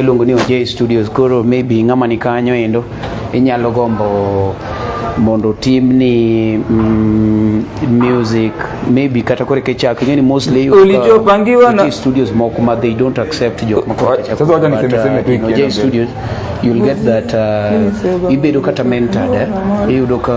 iluongo ni OJ Studios. Koro maybe ng'ama ni kanyo endo inyalo gombo mondo timni mm, music maybe kata kore kechak ingeni mostly you Ulijo uh, pangiwa na studios moko ma they don't accept jok ma kore kechak sasa wacha niseme seme tu ikienda J studios you'll get that uh, ibedo kata mentored eh? iyudo ka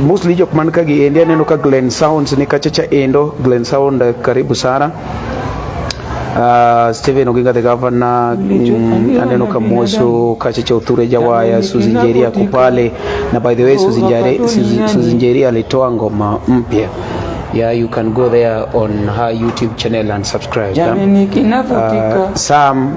mostly jok man ka gi endi aneno ka Glen Sounds ni kachacha endo Glen Sound eh, karibu sana Uh, Steven Oginga the governor mm, aneno Kamoso Kacheche Othure Jawaya Susan Njeri ako pale, na by the way Susan Njeri, Susan Njeri alitoa ngoma mpya yeah you can go there on her YouTube channel and subscribe. Jamini, uh, Sam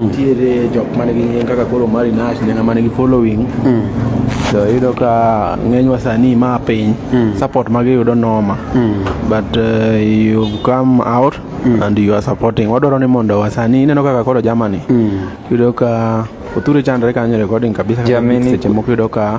nitiere jok man gi nying kaka koro Mari Nash ne ng'ama nigi following mm. to iyudo ka ng'eny wasani ma piny mm. support ma giyudo noma mm. but uh, you come out mm. and you are supporting wadwaro ni mondo wasani ineno kaka koro Germany mm. iyudo ka Oture chandre kanyo recording kabisa seche moko iyudo ka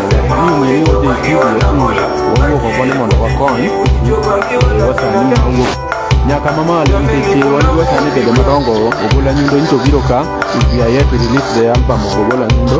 nyaka mamalo nikech wadwa sani bedo madongo ogola nyundo nyicho biro ka we are yet to release the album of ogola nyundo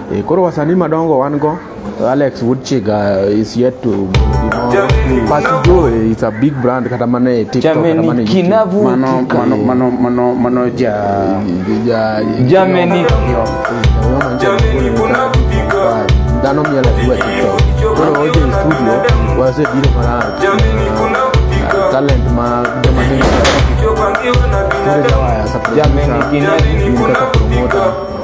Eh, koro wasanii madongo wan go Alex Woodchiga uh, is yet to you know, Pasijo eh, is a big brand kata mana e TikTok kata mana e mano mano mano mano mano ja ja Germany dano miel e kwa TikTok koro oje studio wase biro mara uh, talent ma joma ni Jameni kinabu kinabu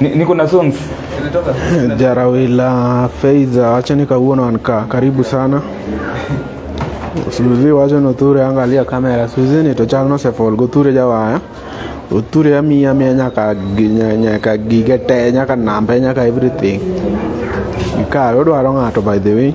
Niko na songs Jarawila Feiza, acha nikauona wankaa. Karibu sana Suzi, wacha noture, angalia kamera. Suzi ni tochal no sefol goture jawaya oture amiya miya nyaka nyaka gige te nyaka nambe nyaka everything ikawe odwaro ng'ato by the way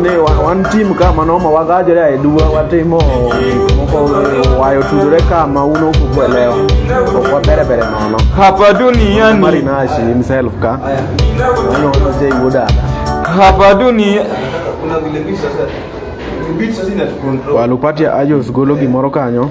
ne one team kama no mawagaje ya edua watimo moko wayo tudure kama uno kuelewa kwa bere bere no no hapa duniani mari na shi himself ka no no je yuda hapa dunia kuna vile bisa sasa walupatia ajos golo gimoro kanyo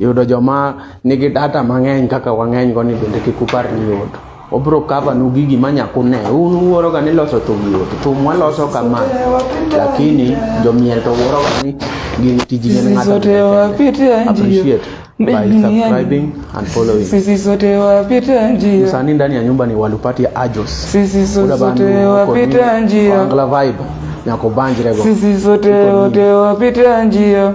yudo joma nigi data mang'eny kaka wang'eny go ni bende kik upar ni yot obro cover nu gigi ma nyaku ne un wuoro ga ni loso thum yot thum waloso kama lakini jomiel to wuoro ga ni gin tiji ne ng'ato appreciate by subscribing and following. Sisi sote wapita njia. Msanii ndani ya nyumba ni Walupati Ajos. Sisi sote wapita njia. Angla vibe. Nyakobanjirego. Sisi sote wapita njia.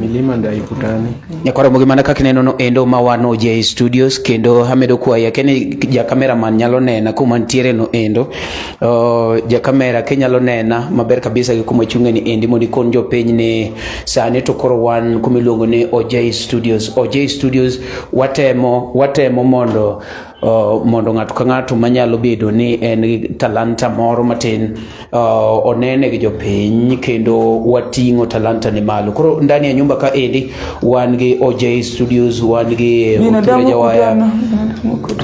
milima ndio haikutani. Nyakwaro gimana kaka ineno no endo ma wan OJ Studios kendo amedo kwayi ake ni ja cameraman nyalo nena kuma nitiere no endo. Uh, ja camera ke nyalo nena maber kabisa gi kuma chunge ni endi mondo ikon jo piny ni sani to koro wan kuma iluongo ni OJ Studios. OJ Studios watemo watemo mondo uh, mondo ng'ato ka ng'ato manyalo bedo ni en talanta moro matin uh, onene gi jopiny kendo wating'o talanta ni malo. Koro ndani ya nyumba ka endi wan gi OJ Studios, wan gi Mutule Jawaya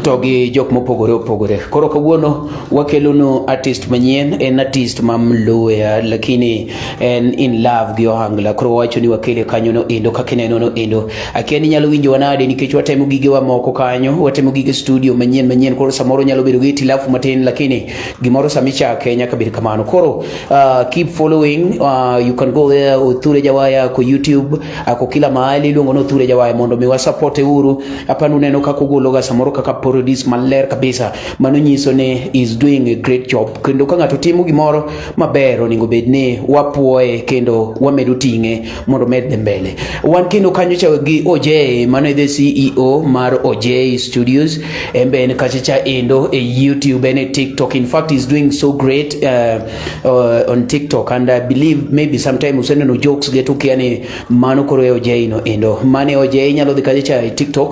to gi jok mopogore opogore. Koro kawuono wakelonu artist manyien, en artist ma Mluya lakini en in love gi Ohangla. Koro wacho ni wakele kanyo no endo kaka ineno no endo. Akia ni nyalo winjo wanade nikech watemo gigewa moko kanyo, watemo gige studio manyien manyien, koro samoro nyalo bedo gi tilafu matin lakini gimoro sami chake nyaka bed kamano koro uh, keep following uh, you can go there Othure Jawaya ko YouTube ako uh, kila mahali iluongo ni Othure Jawaya mondo mi wasapote uru hapa nuneno kaka ogologa samoro kaka parodis maler kabisa mano nyiso ni is doing a great job kendo ka ng'ato timo gimoro maber onego bed ni wapuoye kendo wamedo ting'e mondo medde mbele. Wan kendo kanyo cha gi Ojay mano the CEO mar Ojay Studios en be en kacha cha endo e YouTube and e TikTok. In fact is doing so great uh, uh, on TikTok and I believe maybe sometime useneno jokes getu kiani mano koro e Ojay no endo. Mane Ojay nyalo dhi kacha cha e TikTok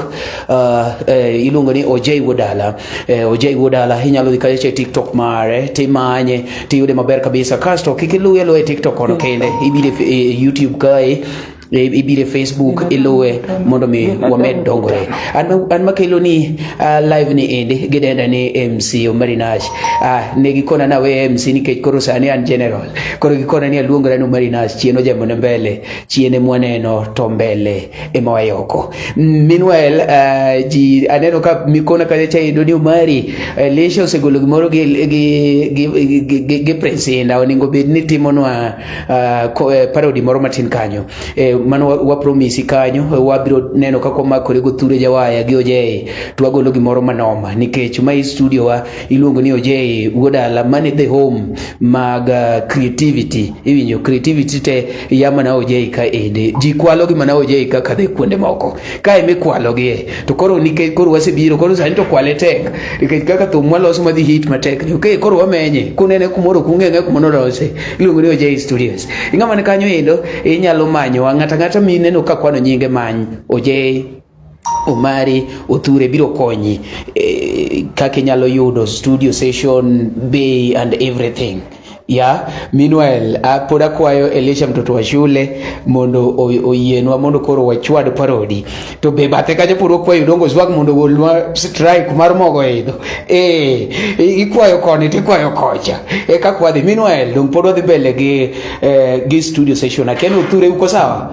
uh, uh, iluongo ni Ojay Wodala. eh, ojai wuod ala inyalo dhi kacha e tiktok mare timanye tiyude maber kabisa kasto kik iluwe luwe e tiktok kono kende ibire e youtube kae e, ibire facebook iluwe mondo mi wamed dongore an makelo ni uh, live ni endi gidenda ni mc omari nash uh, ah, ne gikona na we mc nikech koro sani an general koro gikona ni aluongora ni omari nash chien ojamone mbele chien emwaneno to mbele Emma Wayoko meanwhile uh, ji aneno ka mikona kacha cha ido ni Omari uh, Lesha osegolo gimoro gi gi gi, gi, gi, gi Prince Inda oningo bed ni timonwa uh, ko, uh, parody moro matin kanyo eh, mano wa, wa promise kanyo uh, wabiro neno kaka wamakore go thure jawaya gi Ojei to wagolo gimoro manoma nikech ma i studio wa iluongo ni Ojei wuodala mane the home mag uh, creativity iwinjo creativity te iya mana ojei ka ende ji kwalo gi mana ojei ka kadhe kuonde moko ka eme kwalo gi e to koro nikech koro wasebiro koro sani to kwale tek nikech kaka thum waloso madhi hit matek ni okay koro wamenye kunene kumoro kung'enge kuma nolose iluongo ni ojei studios ing'ama ni kanyo endo inyalo manyowa ng'ata ng'ata mineno ka kwano nyinge many ojei Omari Othure biro konyi eh, kaka inyalo yudo studio session bay and everything ya meanwhile pod akwayo Elisha mtoto wa shule mondo oyienwa mondo koro wachwad parodi to be bathe kacha pod wakwayo dongo swag mondo golwa strike mar mogo idho eh ikwayo koni to ikwayo kocha e ka kwadhi meanwhile dong pod wadhi mbele gi eh, gi studio session akeno uthure uko sawa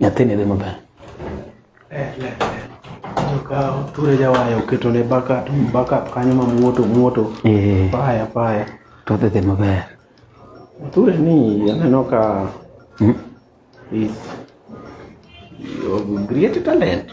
Nyathini dhi maber. Eh, Okawo ture jawaya oketo ne backup, backup kanyo ma muoto muoto. Eh. Paya paya. To dhi dhi maber. Ture ni aneno ka hmm? is you have great talent.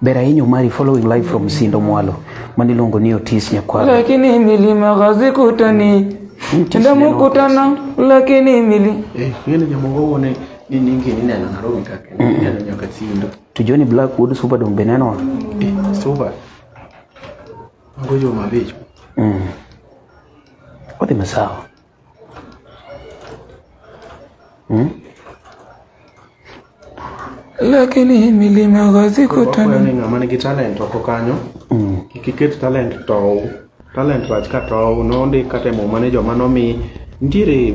Ber ahinya Omari following live from Sindo Mwalo mani iluongo ni Otis Nyakwaro. Lakini milima hazikutani tenda mukutana lakini mili eh, ngene jamongo ni nini ngene nina na roho kake nina nyoka Sindo. Tujoni Blackwood super dom beneno. Eh, super. Ngojo mabecho. Mm. Wote masawa. Hmm? Lakini hii milima gazi kutana. Kwa nini amani kitalent wako kanyo? Mm. Kikiket talent to talent rach ka to no ndi kate mo mane joma no mi ntiere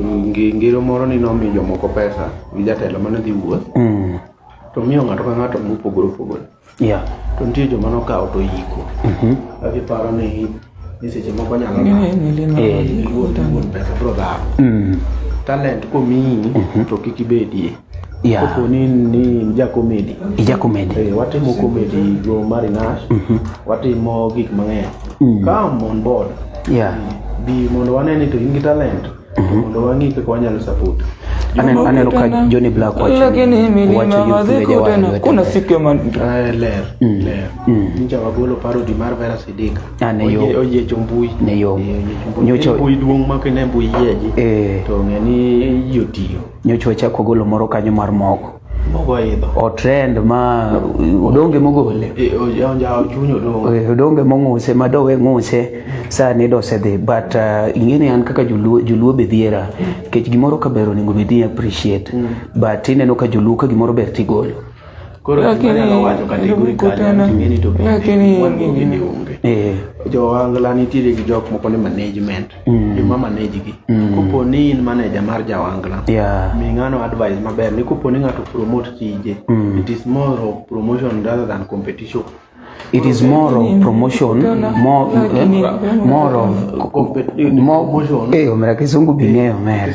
ngero moro ni no mi jomoko pesa gi jatelo mane dhi wuoth. Mm. To miyo ng'ato ka ng'ato mopogore opogore. Yeah. To nitie joma nokawo to yiko. Mhm. Agiparo ni ni seche moko nyalo Eh. wuon wuon pesa bro dhawo. Mm. Talent komiyi to kik ibedie. Yeah. Kopo ni ni ja comedy. Ija komedi. Eh, watimo comedy go marinash. Watimo gik mang'eny. Come on board. Yeah. Bi mondo wane ni to in gi talent. Mhm. mondo wang'e kaka wanyalo support aneno ka Johnny Black wacho lakini milima madhiko tena kuna siku ya man ah, ler mm. ler mm. ninja wagolo paro di mar vera sidika ah, ne yo oye chombui ne yo eh, nyocho mbui duong ma kene mbui yeji eh. to ng'e ni yotio nyocho chako golo moro kanyo mar moko mogo idho otrend ma odonge mogole odonge mong'use ma dowe ng'use sani dosedhi but uh, ing'eni an kaka joluo joluo be dhiera nikech gimoro ka ber onego bed ni appreciate mm. but ineno ka joluo ka gimoro ber tigolo lakini eh. jowangla nitiere gi jok moko ni management mm. joma manage gi mm. kopo ni in manager mar jawangla yeah. mi ng'ano advice maber ni kopo ni ng'ato promote tije mm. it is more of promotion rather than competition it is more of promotion more eh, more of more eh omera kisungu bing'eyo omera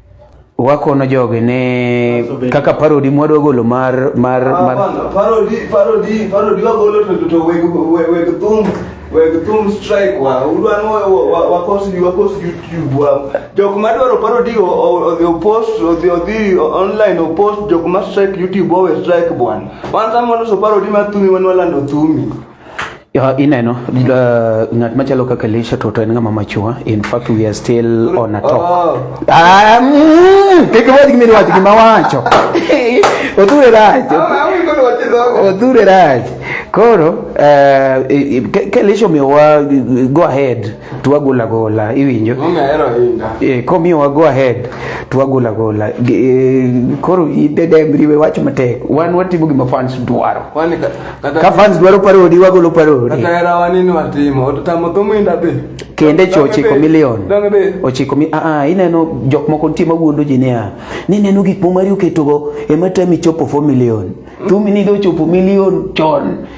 wakono jogi ni kaka parodi mwadwa golo mar mar ah, mar parodi parodi parodi wagolo to to weg weg thum weg thum strike wa udwan wa wa kos you wa kos youtube wa jok ma dwaro parodi o o post o the the online o post jok ma strike youtube o strike bwan wan samono so parodi ma thumi wan walando thumi ineno uh, ng'at machalo kaka Elisha to to en ng'ama machua in fact we are still on a talk oh. ah, mm, kik wach gimi wach gima wacho odhure rach oh, odhure rach koro uh, ka Elisha omiyowa go ahead to wagol agola iwinjo e, komiyo wago ahead to wagol agola e, koro idedemriwe wach matek wan watimo gima fans dwaro ka fans dwaro parodi wagolo parodi kende cho ochiko milion ochiko mi aa ah, ah, ineno jok moko nitie mawuondo ji niya ni neno gik momari oketogo ema tami chopo 4 milion mm. tumi nigo chopo milion chon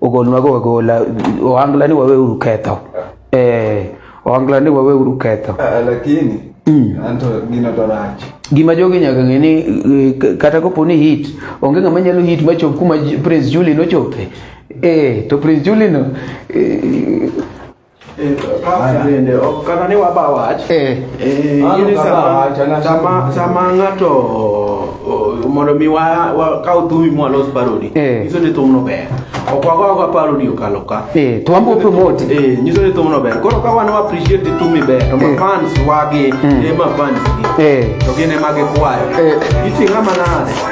ogolnwa go agola ohangla ni wawe uru ketho eh ohangla ni wawe uru ketho Ah, lakini Mm. anto gino to rach gima jogi nyaka ng'e ni eh, k- kata kopo ni hit onge ng'ama nyalo hit machop kuma J- prince julie nochope eh to prince julie no eh, bende ok kata ni waba wach eh. Eh, in sama sama sama ng'ato mondo mi wa kaw thumi mwalos paroni eh. nyiso ni thumno ber ok wagogo paroni okalo ka to wambo promote nyiso ni thumno ber koro ka wan wa appreciate thumi ber to mafans wagi hmm. ema fans gi to gin ema gikwayo iting'a manade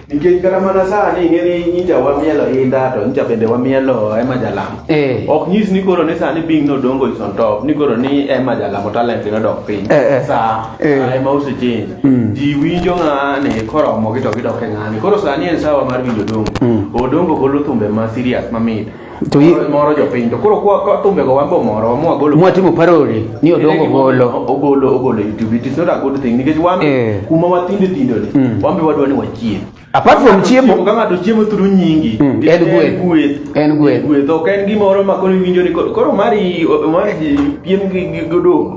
Nikech kata mana sani ing'eni nyicha wamielo inda to nyicha bende wamielo ema jalamo. Eh. Ok nyis ni koro ni sani bing nodongo is on top ni koro ni ema jalamo talent nodok piny. Eh, eh. Sa Eh. sa ema osechange. Mm. Ji winjo ng'ani koromo gi to gidok e ng'ani. Koro sani en sawa mar winjo odongo. Mm. Odongo golo thumbe ma serious mamit. to moro jopiny to koro kwa thumbe go wambo moro mwa golo mwa timo parody ni odongo golo ogolo ogolo youtube it is not a good thing nikech wambe eh. kuma watinde tindo ni mm. wambe wadwa ni wachie apart from chiemo ka ng'ato chiemo thuru nyingi mm. en gweth gweth en gweth gweth ok en gimoro ma koro iwinjo ni koro mari mari piem gi godongo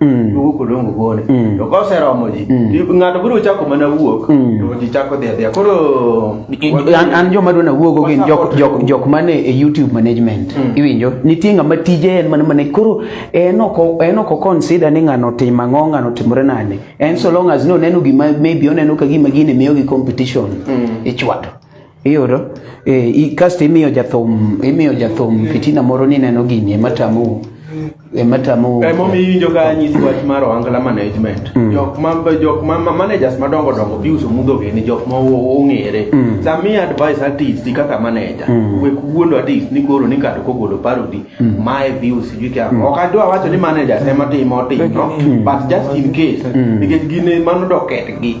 Mm. duogo kodongo gone mm. to koseromo ji mm. ng'ato biro chako mana wuok to ji chako dhi adhiya koro an joma dwa nawuogo gin jok mane e youtube management iwinjo nitie ng'ama tije en mana mana koro en ok oconsider ni ng'ano otim ang'o ng'ano otimore nade en so long as noneno gima maybe oneno ka gima gine miyogi competition ichwato Iyudo eh, kasto imiyo jathum imiyo jathum fitina moro ni neno gini ema tamu ema tamu eh, mom iwinjo ka nyisi wach mar ohangla management mm. jok ma jok ma managers madongo dongo biuso mudho gini jok ma ong'ere mm. sami advice artist kaka manager mm. we kuondo artist ni koro ni kato kogolo parody mm. mae bius sijui kya mm. ok adwa wacho ni manager ema timo timo mm. but just in case mm. nikech gine mano doket gi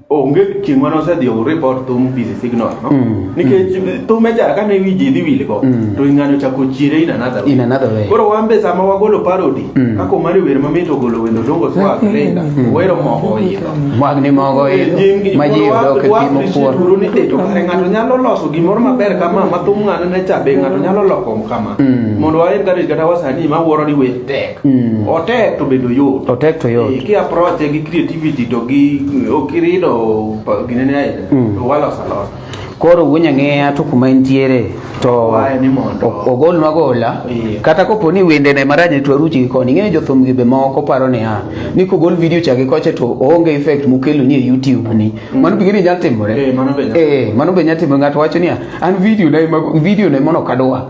onge chieng' mane osedhi report thum busy signal no mm. nikech mm. thum ejara kane wi ji dhi wil go mm. to ing'ano chako chiere in another way in another way koro wan be sama wagolo parody mm. kaka omar wer mamit ogolo wendo dongo swag lenga mm. wero mogo idho mag ni mogo eh, idho ma ji yudo ke timo kuor duro ni deto kare ng'ato nyalo loso gimoro maber kama ma thum ng'ano ne cha be ng'ato nyalo loko kama mm. mondo waen kare kata wasani ma wuoro ni we tek Mm. Otek to bedo yot. Otek to yot. Ki approach gi creativity to gi okirido ginene aile. Mm. Wala salon. Koro wunya ng'eya to kuma entiere to ogol magola yeah. kata kopo ni wende ne maranye to aruchi gi koni ng'eyo jothum gi be moko paro ni ha ni kogol video cha gi koche to onge effect mukelo ni e YouTube ni mm. mano bigini nyal timore eh mano be nyal eh mano be nyal timore ng'ato wacho ni an video na video na mono kadwa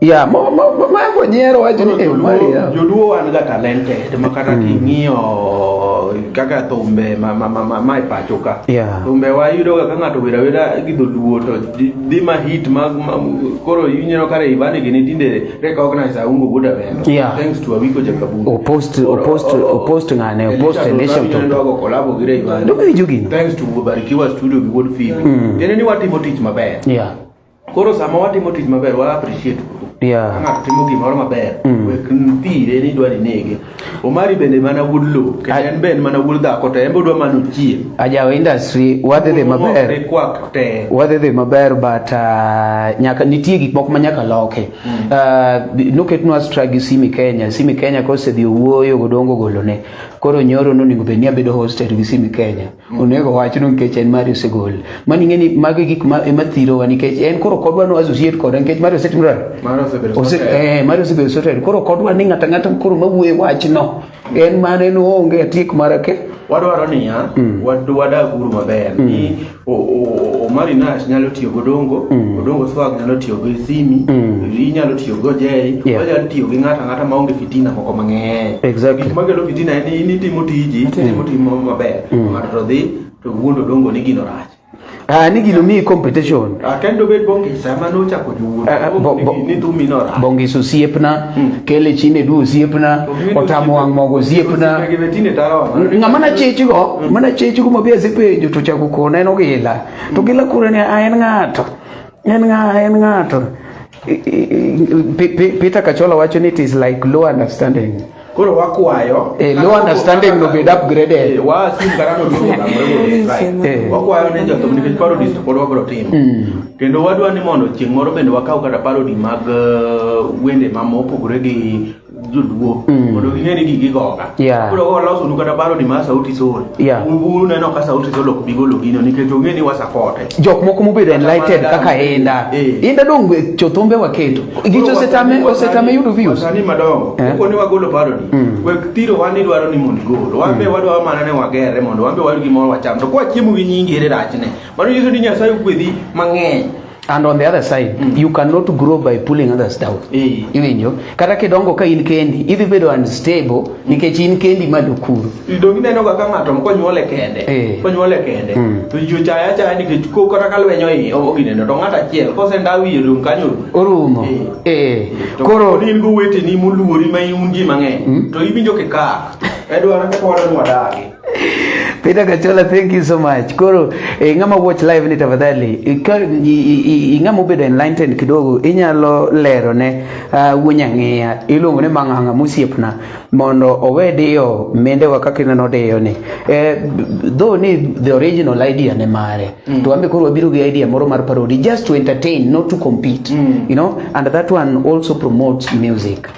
Yeah, mo mo mo ma ko nyiero wacho ni em mari. Joluo wan ga talented ma kata mm. king'iyo kaka thumbe ma ma ma ma e pacho ka. Yeah. Thumbe wa yudo ga ng'ato wira wira gi dholuo to di ma hit ma koro yunyero kare ibani gini tinde recognize aungo buda beno. Yeah. Thanks to Awiko Jakabungu. O post o post o post ngane o post nation to. Ndio go collabo gire ibani. Ndio gini. Thanks to Barikiwa Studio gi Wood Film. Mm. Tena ni watimo tich maber. Yeah. Koro sama watimo tich maber wa appreciate yeah. ng'ato timo gimoro maber mm. wek mpire ni dwa ninege omari bende mana wuod lowo kendo en be en mana wuod dhako to en be odwa mana ochie ajawo industry wadhi dhi maber wadhi dhi maber but uh, nyaka nitie gik moko ma nyaka loke mm. uh, noketnwa stra gi simi kenya simi kenya kosedhi owuoyo godongo golone koro nyoro nonego bed ni abedo hosted gi simi kenya onego wachno nikech en mari osegol mani ng'eni magi gik ma ema thirowa nikech en koro kodwa no associate koda nikech mari osetimre eh, mari osebedo soted koro kodwa ni ng'ata ng'ata koro mawuoye wachno en mane no onge atiek mara ke wadwaro niya mm. wadag uru maber mm. ni Omari Nash nyalo tiyo gi Odongo, mm. Odongo Swag nyalo tiyo gi Simi, inyalo tiyo gi Ojei, onyalo tiyo gi ng'ata ng'ata maonge fitina moko mang'eny exactly. gik makelo fitina en ni nitimo tiji mm. timo timo maber mm. ng'ato to dhi to wuondo dongo ni gino rach Ah, ni gino miyi competition. Ah, kendo obed Bongis ema nochako jowuoth. Ah, ah, ni dhu mino rach. Bongis osiepna, hmm. kele chine du osiepna, otamo wang' mogo osiepna. Ng'ama na chechigo, hmm. mana chechigo mabe asepenjo to chako kona en ogila. To hmm. gila kure ni en ng'ato. En ng'ato, en ng'ato. Peter Kachola wacho ni it is like low understanding koro wakwayo eh, low understanding no bed upgraded eh, wa sim karano do eh. wakwayo ne jo tomni kech parody to pod wabro tim hmm. kendo wadwa ni mondo chieng' moro bende wakaw kata parody mag uh, wende ma mopogore gi joluo mm. mondo ging'e ni gigi goga koro waloso nu kata baro ni ma sauti sol uru neno ka sauti sol ok bigolo gino nikech ong'e ni wasapote jok moko mobedo enlighted kaka inda eh. inda dong eh, chothombe waketo gicho osetame osetame yudo views sani madongo eh? koni wagolo baro ni mm. wek thiro wan idwaro ni mondo igolo wan be mm. wadwaro mana ni wagere mondo wan be wayud gimoro wacham to kwachiemo gi nyingi ere rachne mano nyiso ni nyasaye ogwedhi mang'eny and on the other side mm. you cannot grow by pulling others down hey. iwinjo kata kidongo ka in kendi idhi bedo unstable mm. nikech in kendi ma dukuru idongi neno ga ka ng'ato konyuole kende hey. Eh. konyuole kende mm. to jo chaya chaya nikech ko kata ka lwenyo i ogineno to ng'ato achiel kose ndawi rum kanyo orumo hey. Eh. Eh. hey. to koro in go wete ni muluori ma iunji mang'eny mm. to iwinjo kikak edwaro ka koro nwadagi Peter Kachola, thank you so much. Koro eh, ng'ama watch live ni tafadhali ing'ama obedo enlightened kidogo inyalo lero ne uh, ah, wunyang'eya iluongo ni mang'ang'a musiepna mondo owe diyo mendewa kaka ineno diyo ni eh, though ni the original idea ne mare mm. to ambe koro wabiro gi idea moro mar parody just to entertain not to compete mm. you know and that one also promotes music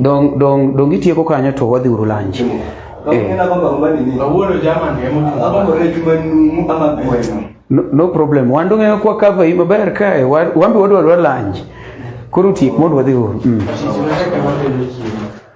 dong itieko kanyo to wadhi uru lanji eh. no problem wan dong'eyo kwa kava i maber kae wambi wadwadwa lanji koro tiek mondo wadhi uru mm.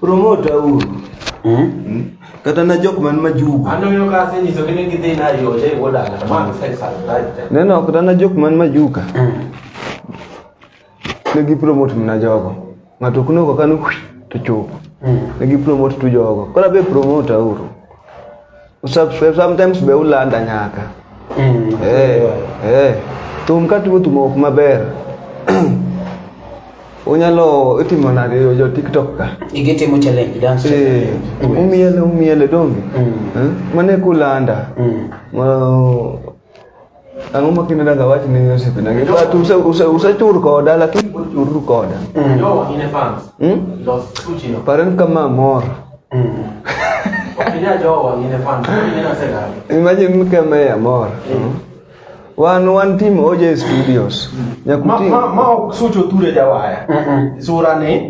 Promota uru. Hmm? Kata na jok man majugu. Anonyo ka asenyiso kene gidhi na yo je woda. Man sai sai. Neno kata na jok man majuka. Hmm. Ne gi promote mna jogo. Ng'ato kuno ko kanu to chupo. Hmm. Ne gi promote tu jogo. Kora be promota uru. Usubscribe sometimes be ulanda nyaka. Mm. Eh. Eh. Tum ka tuo tumo ok maber. Unyalo itimo nade yo jo TikTok ka? Igi timo challenge dance. Eh. Mm. Umiele umiele donge. Mm. Eh? Mane kulanda. Mm. Well, Ang'o ma kinde daga wach ni Joseph na ngi but use use use chur koda lakini pod chur koda. Yo, in a fans. Hmm? Los tuchi no. Paren kama mor. Kija jowa in a fans. Ni na sega. Imagine kama ya mor. Wan wan team OJ Studios. Ma Nyakuti. ma ma ok sucho ture jawaya. Sura ni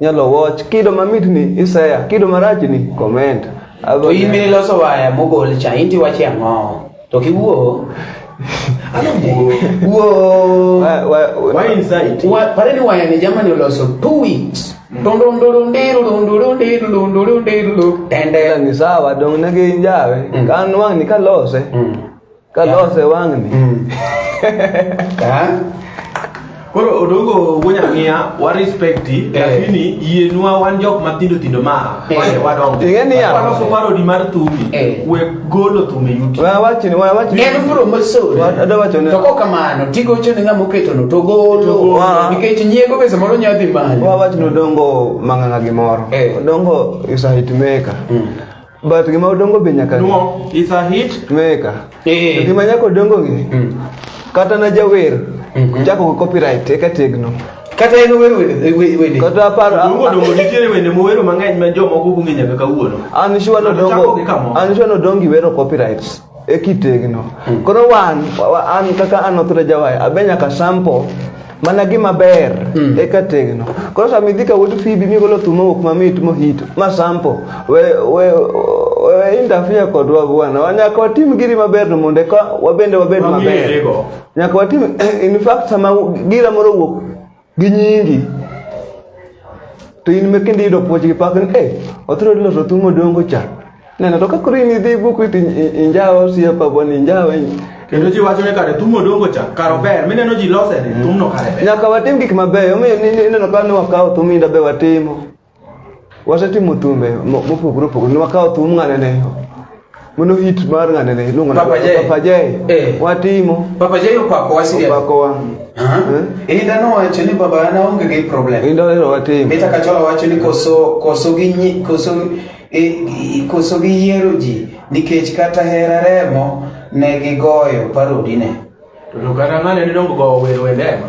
nyalo watch kido mamit ni isaya kido marach ni comment to in bende loso waya mogol cha inti wache ang'o to kiwuo pareni waya ni jamani oloso two weeks ni sawa dong ne gin jawe kan wang' ni kalose Kalose wang'ni. Koro odongo wuonya ng'iya wa respect eh. lakini yienwa wan jok matindo tindo ma eh. wane wadongo. Ing'e niya. Waloso parodi mar thumi. Eh. We golo thumi yuti. Wa wachini wa wachini. Ng'e nufuro mosori. Ada wachoni. To kok kamano tigo choni ng'a moketo no to golo. Nikech nyiego be samoro nyalo dhi malo. Wa wachini odongo mang'ang'a gi moro. Odongo is a hit maker. Mm. But gima odongo be nyaka. No, it's a hit. Tumeweka. Eh. Gima nyaka odongo ngi. Mm. Kata na jawer. Mm -hmm. Chako ko copyright eka tegno. Kata en wer wende. Kata par dongo dongo nitiere wende mowero mang'eny ma jomoko ong'e nyaka kawuono. An sure no dongo. An sure no dongi wero copyrights. e kitegno mm. koro wan an kaka an othre jawai abe nyaka sample mana gima ber mm. eka tegno koro sama idhi ka wuod fibi migolo thum mowuok mamit mohito ma sample we, we, we interfere kodwa bwana wanyaka watim giri maber no mondo eka wabende wabed maber nyaka watim in fact sama gira moro wuok gi nyingi to in me kendo iyudo puoch gi pak ni eh otro loso thum odongo cha neno to ka koro in idhi buku iti injawo osiepa boni injawo in- kendo ji wacho ni kare thum odongo cha kare ober mineno ji lose ni thumno kare ber nyaka watim gik mabeyo omiyo ni- ni- ineno ka ne wakawo thum inda be watimo wasetimo thumbe mo- mopogore opogore nwakawo thum ng'anene mano hit mar ng'anene iluongo na Papa Jay. Papa Jay. Eh. watimo Papa Jay opako wa serious. opakowa Aha. Eh? Inda nowacho ni baba an aonge gi problem. kendo ero watimo Mita Kachola wacho ni koso koso gi nyi, koso e, i- koso gi yiero ji nikech kata hera remo ne gigoyo parodi ne. To kata ng'ane ni dongo go wero wende ema.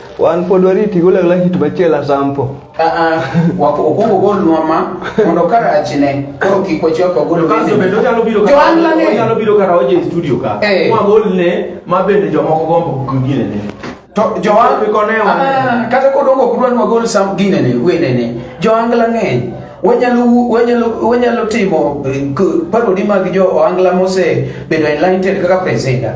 Wan pod wariti golagla hit machielo asampo. Ah, ah, wako ogogo gol nwama mondo karachi ne koro kik wachwak ogol kaso bende onyalo biro ka ohala ne onyalo biro ka roje e studio ka hey. Eh. wagol ne ma bende jomoko gombo kugine ne to joan bi kone wa ah, kata kodongo kudwan wagol sam gine ne wene ne joangla ng'eny wanyalo wanyalo wanyalo timo eh, parodi mag jo oangla mose bedo enlightened kaka presenter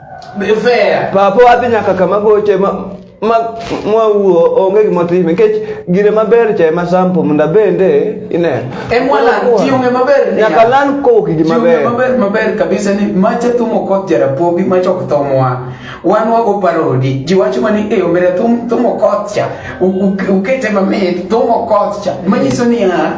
Papa wadhi nyaka kama goche ma ma mwawuo onge gima time nikech gire maber cha ema sample munda bende ine emwalan tiume maber nyaka lan ko kiji maber maber maber kabisa ni macha tumo kot jara pogi macha ok thomwa wan wago parodi ji wacho mani eyo mere tum tumo kot cha ukete mamit tumo kot cha manyiso ni ha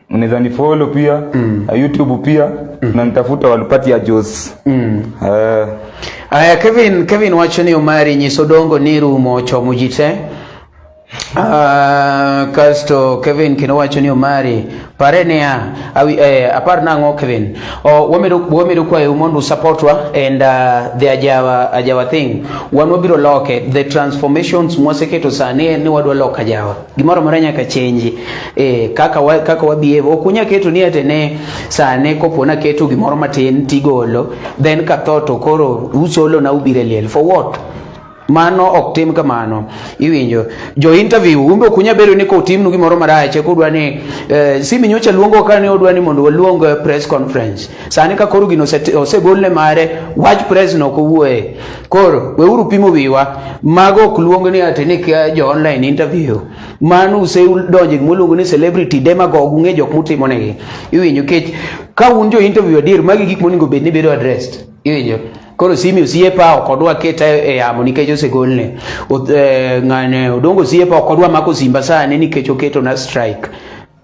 unaweza ni follow pia mm. Uh, YouTube pia mm. na nitafuta walipati ya Jos mm. uh. Aya, Kevin Kevin wacho ni Omari nyisodongo niru mocho mujite Uh, kasto Kevin kendo wacho ni Omari pare niya awi, eh, apar nang'o Kevin oh, wamedo, wamedo kwayo mondo usupportwa and uh, the ajawa, ajawa thing wan wabiro loke the transformations mwaseketo sani ni wadwa loka ajawa gimoro moro nyaka chenji eh, kaka wa, kaka wabievo ok unya keto ni ate ne sane kopo na keto gimoro matin tigolo then ka tho to koro usolo na ubire liel for what mano ok tim kamano iwinjo jo interview umbe ok unya bedo ni kotimnu gimoro marach kodwa ni eh, simi nyocha luongo ka ne odwa ni mondo waluong eh, press conference Sani ka koro gino osegol ne mare, wach pres no ok owuoye. Koro weuru pimo wiwa, mago ok luong ni ati ni kia jo online interview. Mano usedonjo e gima iluongo ni celebrity demagogue, ung'e jok mutimo negi. Iwinjo kech ka un jo interview adier, magi gik monego bed ni bedo addressed. Iwinjo. Koro simi osiepa ok odwa keta e yamo nikech osegolne. Oth- eh, Ng'ane Odongo osiepa ok odwa mako simba sani nikech oketona strike.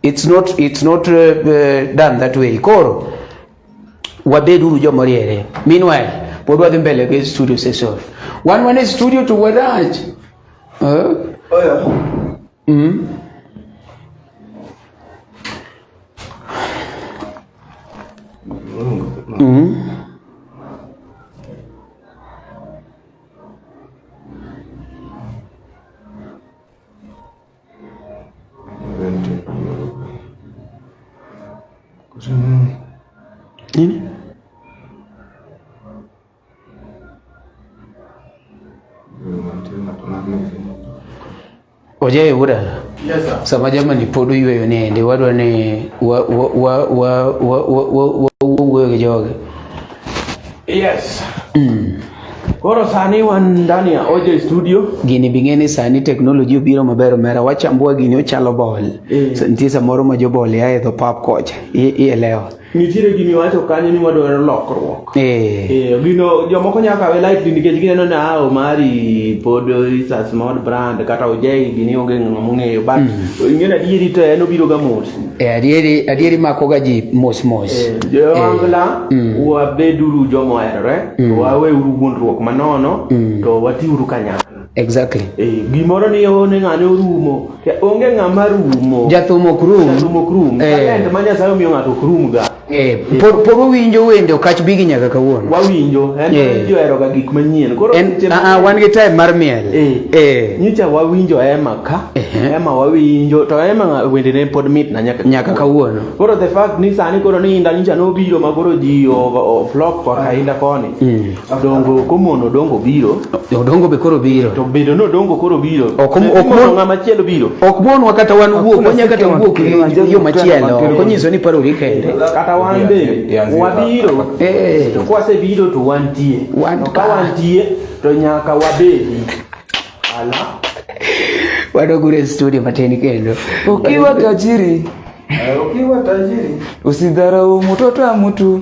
It's not, it's not uh, uh, done that way. Koro wabeduru joma riere. Meanwhile, pod wadhi mbele gi studio session. Wan wan e studio to wadach. Uh, oh yeah. Mm. Mm-hmm. Ojaye wuda sama jamani pod oyweyo nende wadwa ni wawuoyo gi joge yes mm. Koro sani wan ndani ya OJ studio. Gini bi ng'eni sani technology obiro maber omera wachambua gini ochalo bol. Eh. So, nitie samoro ma jobol ya edho pap kocha. Ielewa. Nitiere gini wacho kanyo ni wadwaro lokruok. Eh. Eh, gino jomoko nyaka kawe light ni nikech gineno ni ah Omari pod is a small brand kata OJ gini onge ng'ama ong'eyo but mm. ing'eyo adieri to en obiro ga mos. E adieri adieri mako ga ji mos mos. Eh, jo angla eh, mm. wabeduru jo moherore to mm. waweuru wuondruok manono mm. to watiuru kanyakla. Exactly. Eh, gimoro ni one ng'ane orumo. Onge ng'ama rumo. Jathum ok rum. Jathum ok rum. Eh. Talent ma Nyasaye omiyo ng'ato ok rum ga. Eh, por por winjo wende okach bigi nyaka kawuono. Wawinjo, en eh. jo ero ga gik manyien. Koro en a ah, ah, wan gi time mar miel. Eh. eh. Nyicha wawinjo ema ka. Eh. Ema wawinjo to ema wende ne pod mit na nyaka nyaka kawuono. Koro the fact ni sani koro ni inda nyicha no biro ma koro ji o flock kwa kainda koni. Mm. Odongo komono odongo biro. Odongo be koro biro. To bedo no odongo koro biro. Ok ok mon ngama chielo biro. Ok monwa kata wan wuok wanya kata wuok yo machielo. Konyiso ni paro ri kende. Kata wan be wabiro. Eh. To kwase biro to wantie. To ka wantie to nyaka wabedi. Ala. Wadogure studio mateni kendo. Ukiwa tajiri. Eh, ukiwa tajiri. Usidharau mtoto wa mtu.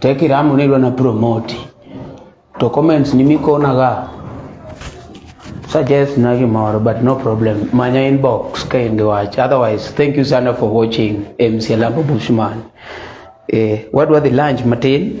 teki ramu nilwa na promote to comments ni mikona ga suggest na gimoro but no problem manya inbox ka in the watch otherwise thank you sana for watching MC Lambo Bushman eh wadwa the lunch matin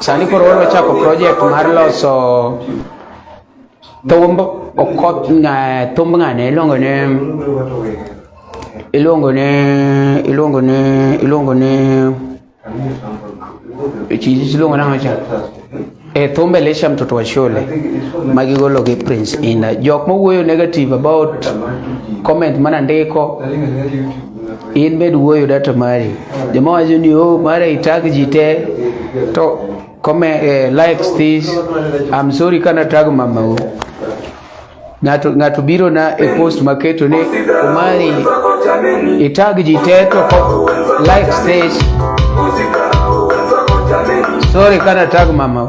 Sani koro wadwa chako project mar loso thumb okoth thumb ng'ane iluongo ne iluongo ne iluongo ne iluongo ne chiji iluongo nang'o cha e thumb Elisha mtoto wa shule ma gigolo gi Prince Indah jok mowuoyo negative about comment mana ndiko in med wuoyo data mari joma wacho ni o oh, mara itag ji te to come eh, likes this i'm sorry kana tag mamau ng'ato ng'ato biro na e post maketo ni omari itag ji te to likes this sorry kana tag mamau